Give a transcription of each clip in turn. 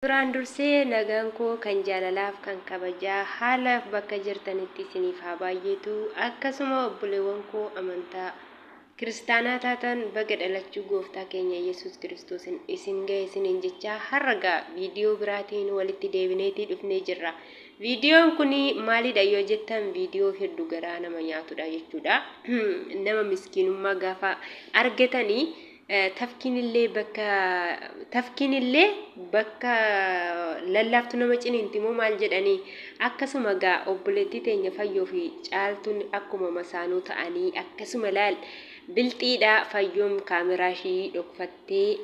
Duraan dursee nagaan koo kan jaalalaaf kan kabajaa haalaaf bakka jirtanitti isiniif haa baayyeetu akkasuma obboleewwan koo amantaa kiristaanaa taatan baga dhalachuu gooftaa keenya yesuus kiristoosin isin gahe isiniin jechaa har'a gaa viidiyoo biraatiin walitti deebineetii dhufnee jirra viidiyoon kun maalidha yoo jettan viidiyoo heddu garaa nama nyaatudha jechuudha nama miskiinummaa gaafa argatanii Tafkiinillee bakka Tafkiinillee bakka lallaaftu nama ciniinti moo maal jedhanii? Akkasuma gaa obboleettii teenya Fayyoo fi Caaltuun akkuma masaanuu ta'anii akkasuma laal bilxiidha Fayyoon kaameraa ishii dhokfattee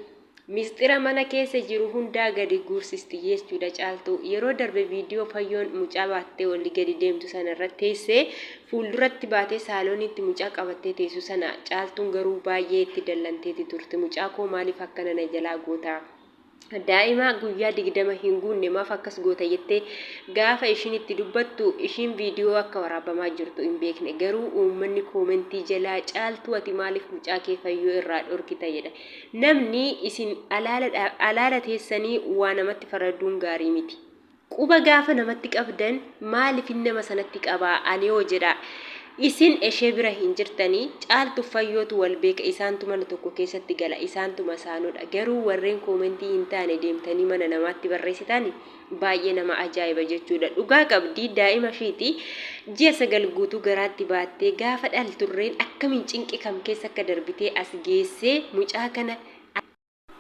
misxira mana keessa jiru hundaa gadi guursisti jechuudha Caaltuu yeroo darbe viidiyoo Fayyoon mucaa baattee olii gadi deemtu sana irratti teessee Fuulduratti baatee saalooniitti mucaa qabattee teessu sana Caaltuun garuu baay'ee itti dallanteeti turte. Mucaa koo maaliif akkana na jalaa goota? Daa'ima guyyaa 20 hin guunne maaf akkas goota jettee gaafa ishiin itti dubbattu ishiin viidiyoo akka waraabamaa jirtu hin beekne. Garuu uummanni koomentii jalaa Caaltuu ati maaliif mucaa kee fayyoo irraa dhorkita jedha. Namni isin alaala teessanii waa namatti faraduun gaarii miti. Quba gaafa namatti qabdan maalifin nama sanatti qaba anihoo jedha. Isin eshee bira hin jirtani caaltuuf fayyootu wal beeka isaantu mana tokko keessatti gala isaantu masaanudha garuu warreen koomentii hin taane deemtanii mana namaatti barreessitani baay'ee nama ajaa'iba jechuudha dhugaa qabdi daa'ima ishiiti ji'a sagal guutuu garaatti baattee gaafa dhalturreen akkamiin cinqi kam keessa akka darbitee as geessee mucaa kana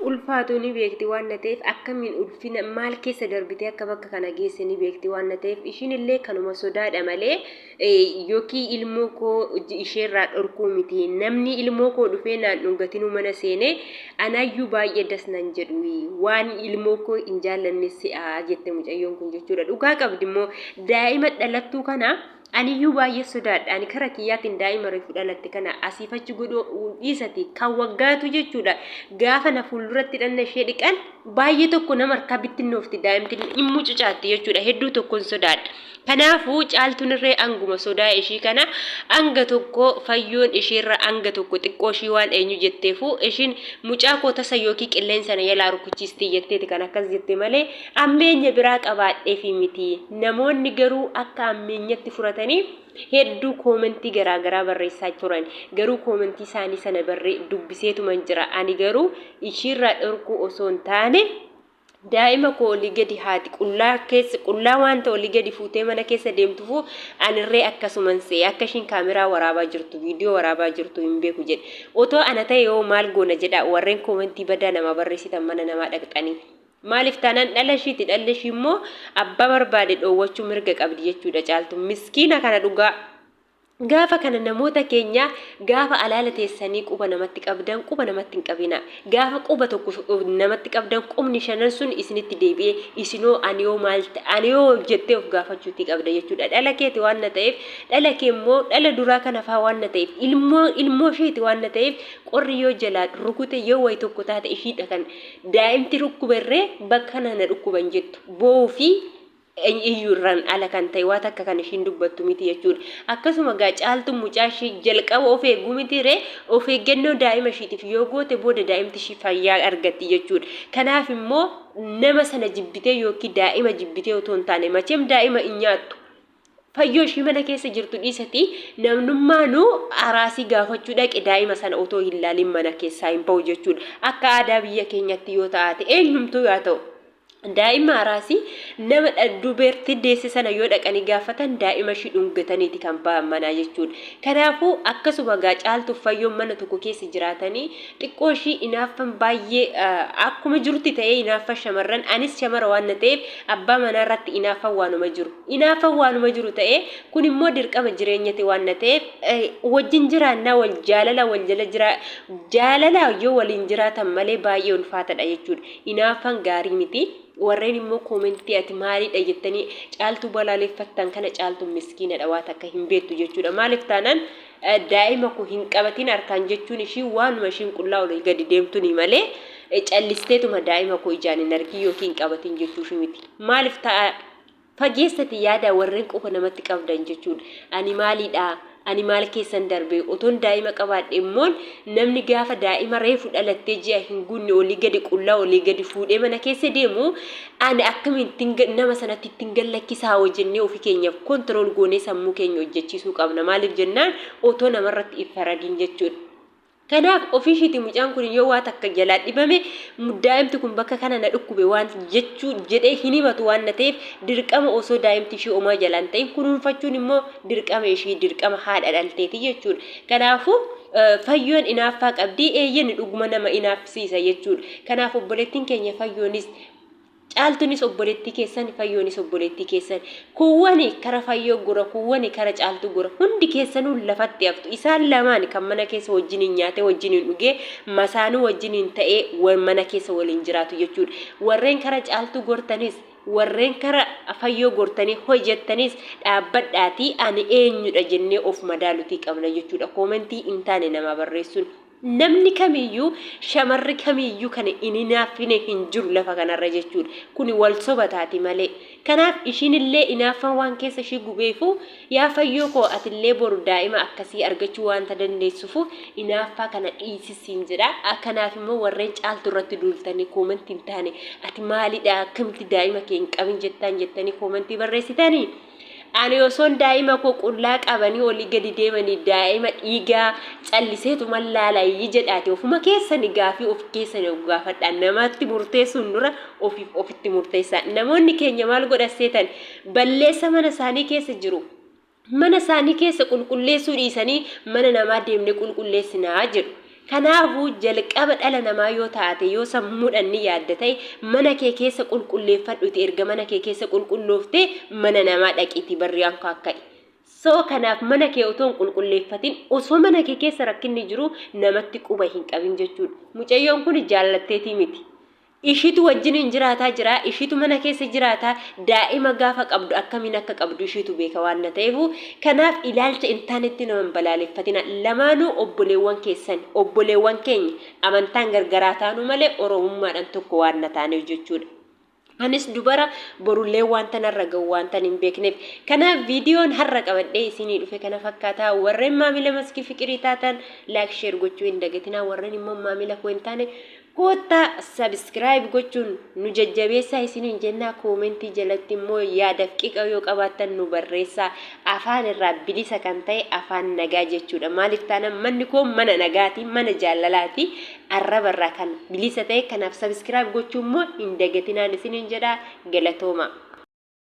ulfaatuu ni beekti waanna ta'eef akkamiin ulfina maal keessa darbitee akka bakka kana geesse ni beekti waanna ta'eef ishiin illee kanuma sodaadha malee yookiin ilmoo koo isheerraa dhorkuu miti namni ilmoo koo dhufee naan dhungatinuu mana seene anaayyuu baay'ee das nan jedhu waan ilmoo koo hin jaallanne se'aa jette mucayyoon kun jechuudha dhugaa qabdi immoo daa'ima dhalattuu kana Aniyyuu baay'ee sodaadha. Ani kara kiyyaatiin daa'ima reefu dhalatte kana asiif achi godhuu dhiisati kan waggaatu jechuudha. Gaafa na fuulduratti dhanna ishee dhiqan baay'ee tokko nama harkaa bittinnoofti daa'imti hin mucucaatti jechuudha. Hedduu tokkoon sodaadha. Kanaafuu caaltuun irree anguma sodaa ishii kana anga tokko fayyoon ishiirra anga tokko xiqqoo ishii waan eenyu jetteefu ishiin mucaa koo tasa yookiin qilleensa na jalaa rukuchiisti jetteeti kan akkas jette malee Ammeenya biraa qabaadheefii miti, namoonni garuu akka ammeenyatti furataniif hedduu koomentii garaa garaa barreessaa turan. Garuu koomentii isaanii sana barre dubbiseetuman jira. Ani garuu ishiirraa dhorkuu osoo hin taane daa'ima koo olii gadi haati qullaa keessa qullaa wanta olii gadi fuutee mana keessa deemtufuu anirree akkasuman se'e akka ishiin kaameraa waraabaa jirtu viidiyoo waraabaa jirtu hin beeku jedhe. Otoo ana ta'e hoo maal goona jedhaa warreen koomentii badaa namaa barreessitan mana namaa dhaqxanii. Maaliif taanaan dhala ishiiti dhalli ishii immoo abbaa barbaade dhoowwachuu mirga qabdi jechuudha caaltu miskiina kana dhugaa gaafa kana namoota keenya gaafa alaala teessanii quba namatti qabdan quba namatti hin qabina gaafa quba tokko namatti qabdan qubni shanan sun isinitti deebi'ee isinoo aniyoo maal aniyoo jettee of gaafachuutti qabda jechuudha dhala keeti waan na ta'eef dhala kee immoo dhala duraa kana faa waan na ta'eef ilmoo ilmoo isheeti waan na ta'eef qorri yoo jalaa rukute yoo wayi tokko taate ishiidha kan Daa'imti dhukkuberree bakka kanaa na dhukkuba hin jettu. Boo'uu fi iyyuurraan ala kan ta'e waa takka kan ishiin dubbattu miti jechuudha. Akkasuma gaa caaltuun mucaa ishii jalqaba of eeguu miti ree of eeggannoo daa'ima ishiitiif yoo goote booda daa'imti ishii fayyaa argatti jechuudha. Kanaaf immoo nama sana jibbitee yookiin daa'ima jibbitee otoo hin taane macheem daa'ima hin nyaattu. Fayyoo ishii mana keessa jirtu dhiisati namnummaanu araasii gaafachuu dhaqe daa'ima sana otoo hin laalin mana keessaa hin ba'u jechuudha. Akka aadaa biyya keenyatti yoo ta'aate eenyumtuu yaa ta'u. Daa'ima araasii nama dubeerti deesse sana yoo dhaqanii gaafatan daa'ima ishii dhungataniiti kan ba'an manaa jechuudha. Kanaafuu akkasuma gaa caaltuuf fayyoon mana tokko keessa jiraatanii xiqqoo ishii inaaffan baay'ee akkuma jirutti ta'ee inaaffa shamarran anis shamara waan na ta'eef abbaa manaa irratti inaaffan waanuma jiru inaaffan waanuma jiru ta'ee kun immoo dirqama jireenyati waan na ta'eef wajjin jiraannaa wal jaalala wal jala jiraa jaalala yoo waliin jiraatan malee baay'ee ulfaatadha jechuudha inaaffan gaarii miti warreen immoo koomentii ati maaliidha jettanii caaltuu balaaleffattan kana caaltuun miskiinadha waa takka hin beektu jechuudha maaliif taanaan Daa'ima koo hin qabatin harkaan jechuun ishii waanuma ishiin qullaa olii gadi deemtuni malee callisteetuma daa'ima koo ijaan hin argin yookiin hin qabatin jechuu ishii miti. Maaliif ta'a fageessati yaada warreen quufa namatti qabdan jechuun ani maaliidha ani maal keessan darbee otoon daa'ima qabaadhe immoon namni gaafa daa'ima reefu dhalattee ji'a hin guunne olii gadi qullaa olii gadi fuudhee mana keessa deemu Ani akkamittin nama sanatti ittin gallakkisaa hoo jennee ofi keenyaaf control goonee sammuu keenya hojjachiisuu qabna maaliif jennaan otoo namarratti hin faradiin jechuudha. Kanaaf ofiishiiti mucaan kun yoo waa takka jalaa dhibame daa'imti kun bakka kana na dhukkube waan jechuu jedhee hin himatu waan na ta'eef dirqama osoo daa'imti ishii omaa jalaa hin ta'in kunuunfachuun immoo dirqama ishii dirqama haadha dhalteeti jechuudha. Kanaafuu fayyoon inaaffaa qabdii eeyyeni dhuguma nama inaaffisiisa jechuudha. Kanaaf obboleettiin keenya fayyoonis Caaltunis obboleettii keessan, fayyoonis obboleettii keessan. Kuuwwani kara fayyoo gora, kuuwwani kara caaltuu gora. Hundi keessanuu lafatti haftu. Isaan lamaan kan mana keessa wajjiniin nyaatee, wajjiniin dhugee, masaanuu wajjiniin ta'ee wa- mana keessa waliin jiraatu jechuudha. Warreen kara caaltuu gortanis, warreen kara fayyoo gortanii hojettanis dhaabbadhaatii ani eenyudha jennee of madaalutii qabna jechuudha. Koomentii hin taane namaa barreessuun. Namni kamiyyuu shamarri kamiyyuu kan hin hinaaffine hin jiru lafa kanarra jechuudha. Kuni wal soba taati malee. Kanaaf ishiinillee inaaffaan waan keessa ishii gubeefuu yaa fayyoo koo atillee boru daa'ima akkasii argachuu waanta dandeessufuu inaaffaa kana dhiisi siin jedha. Kanaaf immoo warreen caaltu irratti duultanii koomantii hin taane ati maalidha akkamitti daa'ima kee hin qabin jettaan jettanii koomantii barreessitanii? Ani osoon daa'ima koo qullaa qabanii olii gadi deemanii daa'ima dhiigaa calliseetuman laalayyi jedhaati ofuma keessani gaafii of keessani of gaafadhaa namatti murteessuun dura ofiif ofitti murteessaa namoonni keenya maal godhan seetan balleessa mana isaanii keessa jiru mana isaanii keessa qulqulleessuu dhiisanii mana namaa deemne qulqulleessinaa jedhu Kanaafuu, jalqaba dhala namaa yoo taate, yoo sammuudhan ni yaadda ta'e, mana kee keessa qulqulleeffadhuti erga mana kee keessa qulqullooftee mana namaa dhaqiiti barrii ankaa ka'i. So, kanaaf mana kee otoo hin qulqulleeffatin, osoo mana kee keessa rakkinni jiruu namatti quba hin qabin jechuudha. Mucayyoon kuni jaallatteetii miti. Ishiitu wajjiniin jiraataa jira, ishiitu mana keessa jiraata, daa'ima gaafa qabdu akkamiin akka qabdu ishiitu beeka waanna ta'eefu, kanaaf ilaalcha hin taanetti nama hin balaaleffatina. Lamaanuu obboleewwan keessani, obboleewwan keenya, amantaan gargar haa taanu malee Oromummaadhan tokko waanna taaneef jechuudha. Anis dubara, borulleen waanta narra ga'u waantan hin beekneef. Kanaaf viidiyoon har'a qabadhee isiinii dhufe kana fakkaata. Warreen maamila Maskii Fiqirii taatan like share gochuu hin dagatinaa, warreen immoo maamila koo hin taane Koottaa subscribe gochuun nu jajjabeessaa isiniin jennaa comment jalatti immoo yaadaf qiqa yoo qabaattan nu barreessaa afaan irraa bilisa kan ta'e afaan nagaa jechuudha maalif taanaan manni koo mana nagaati mana jaallalaati arraba irraa kan bilisa ta'e kanaaf subscribe gochuu immoo hin dagatinaan isiniin jedhaa galatoomaa.